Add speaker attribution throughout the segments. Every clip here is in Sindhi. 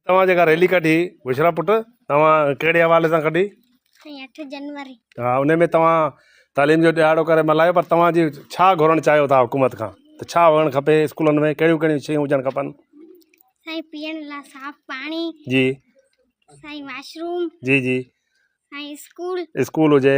Speaker 1: توهان جيڪا ريلي ڪڍي بشرا پٽ توهان ڪهڙي حوالي سان ڪڍي سائين اٺ
Speaker 2: جنوري ها ان ۾ توهان
Speaker 1: تعليم جو ڏهاڙو ڪري ملهايو پر توهان جي ڇا گهرڻ چاهيو ٿا حڪومت کان ته ڇا هئڻ کپي اسڪولن ۾ ڪهڙيون ڪهڙيون شيون هجڻ کپن سائين
Speaker 2: پيئڻ لاء صاف پاڻي جي
Speaker 1: سائين
Speaker 2: واشروم جي جي
Speaker 1: سائين اسڪول
Speaker 2: اسڪول
Speaker 1: هجي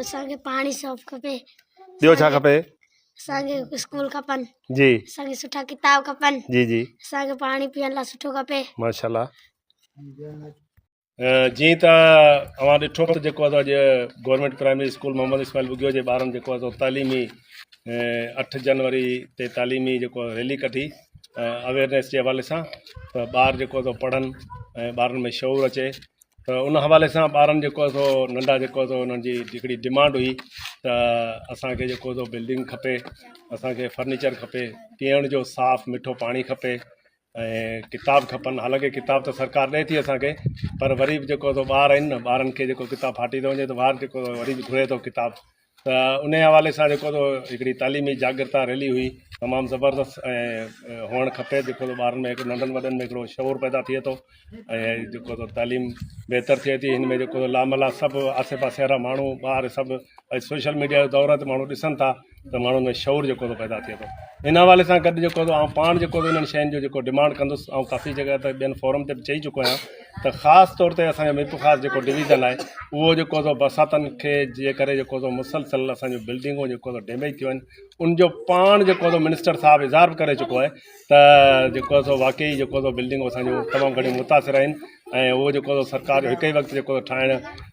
Speaker 1: اسان کي
Speaker 2: پاڻي صاف کپي ٻيو ڇا کپي
Speaker 1: اسان کي
Speaker 2: اسڪول کپن جي اسان کي سٺا
Speaker 1: ڪتاب
Speaker 2: کپن جي جي اسان کي
Speaker 1: پاڻي پيئڻ
Speaker 2: لاء سٺو کپي ماشاءالله
Speaker 1: جي ته اوهان ڏٺو ته جيڪو اڄ government primary school Muhammad Ismail Bugio جي ٻارن جيڪو اٿو تعليمي 8 جنوري تي تعليمي جيڪو ريلي ڪڍي اويرنس جي حوالي سان ته ٻار جيڪو اٿو پڙهن ۽ ٻارن ۾ شعور اچي ته ان حوالي سان ٻارن جيڪو آهي سو ننڍا جيڪو آهي سو انهن جي هڪڙي ڊمانڊ هئي ته اسانکي جيڪو سو بلڊنگ کپي اسانکي فرنيچر کپي پيئڻ جو صاف مٺو پاڻي کپي ۽ ڪتاب کپن حالانڪه ڪتاب ته سرڪار ڏئي ٿي اسانکي پر وري به جيڪو سو ٻار آهن ٻارن کي جيڪو ڪتاب ڦاٽي ٿو وڃي ته ٻار جيڪو وري به گهري ٿو ڪتاب ته انهيء حوالي سان جيڪو هڪڙي تعليمي جاڳرتا ريلي هئي تمام زبردست ۽ هئڻ کپي جيڪو ٻارن ۾ هڪ ننڍن وڏن ۾ هڪڙو شعور پيدا ٿئي ٿو ۽ جيڪو تعليم بهتر ٿئي ٿي هن ۾ جيڪو لاملا سڀ آسي پاسي وارا ماڻهو ٻار سڀ سوشل ميڊيا جو دور تي ماڻهو ڏسن ٿا ته ماڻهن ۾ شعور جيڪو پيدا ٿئي ٿو ان حوالي سان گڏ جيڪو آئون پاڻ جيڪو انهن شين جو جيڪو ڊمانڊ ڪندس آئون ڪافي جڳهه تي ٻين فورم تي به چئي چڪو آهيان ته خاص طور تي اسان جو ميرپورخاص جيڪو ڊويزن آهي اهو جيڪو سو برساتن کي جي ڪري جيڪو سو مسلسل اسان جون بلڊنگون جيڪو سو ڊيميج ٿيون آهن ان جو پاڻ جيڪو سو منسٽر صاحب اظهار به ڪري چڪو آهي ته جيڪو سو واقعي جيڪو سو بلڊنگون اسان جون تمام گھڻيون متاثر آهن ۽ اهو جيڪو سو سرڪار جو هڪ ئي وقت جيڪو ٺاهڻ